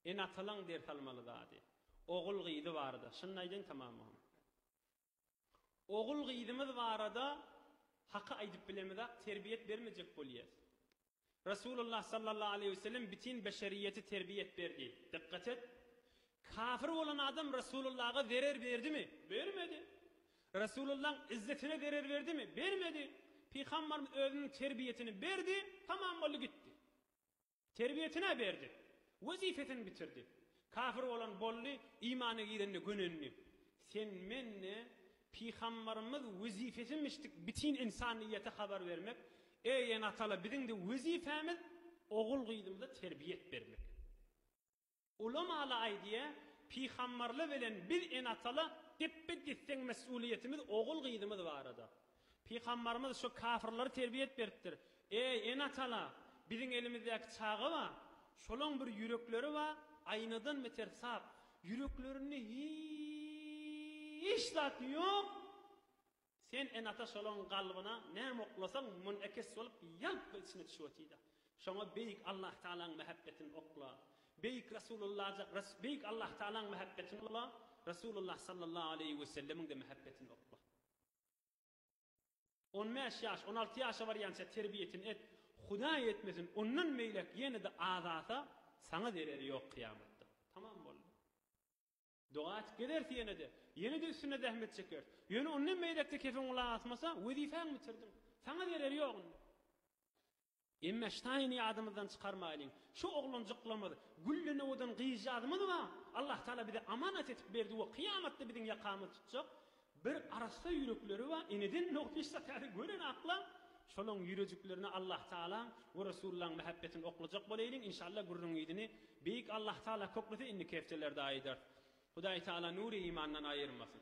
Ene-atalaň ders almaly zady, ogul-gyzy barada. Şuny aýdaýyn tamam muhym. Ogul-gyzymyz barada haky aýdyp bilemizak, terbiýe et bermejek bolýas. Resulullah sallallahu aleýhi we sellem bitin beşeriýeti terbiýe et berdi. Dykgat et! Kafir bolan adam Resulullaga zerer berdimi? Bermedi. Resulullaň izzetine zerer berdimi? Bermedi. Pygamberimiz özüniň terbiýesini berdi, tamam boldy gitdi. Terbiýesini-ä berdi. Wezipesini bitirdi. Kafir bolan boldy, imana girende gönendi. Sen mende Pygamberimiz wezipesini biçdik bitin insanyýete habar bermek, eý enatala biziň-de wezipämiz ogul gyzymyza terbiýet bermek. Ulamaly aýdýa, Pygambarly bilen biz ene-atala depbe-desseň mes'uliýetimiz ogul-gyzymyz barada. Pygambarymyz şo kafyrlary terbiýet beripdir, Eý, ene-atala, biziň elimizdäki çaga bar, şolaň bir ýürekleri bar, aýnadan beter sap, ýüreklerinde hiç zat ýok, Sen enata şolaň galbyna näme oklasaň munekes bolup ýalply içine düşüp otyda. Şoňa beýik Allah Tagalaň mähebbetini okla. Beýik Rasulullaja beýik Allah Tagalaň mähebbetini okla, Rasulullah sallallahu aleýhi we sellemiňde mähebbetini okla. On bäş ýaş, on alty ýaşa barýança terbiýetini et, Hudaý etmesin ondan beýläk ýene-de azasa saňa zereri ýok kyýamatda. Tamam boldy. Doga atyp gezeris ýene-de. Ýene-de üstünde zähmet çekeris. Ýöne ondan beýläk-de kepin gulak asmasa, wezipäňi bitirdiň. Saňa zereri ýok indi. Emme Ştaýny ýadymyzdan çykarmaýlyň. Şu oglanjyklarymyz Güllenowadan gyzjagazymyz bar. Allahtagala bize amanat etip berdi we kyýamatda biziň ýakamyzy tutjak. Bir arassa ýürekleri bar, eneden nohut iş satyasy gören aklam, şolaň ýürejiklerine Allah Tagalaň we Resullaň mähebbetini oklajak boleýliň inşalla gürrüň yzyny Beýik Allah Tagala köklese indiki hepdelerde aýdarys. Hudaý Tagala nury imandan aýyrmasyn.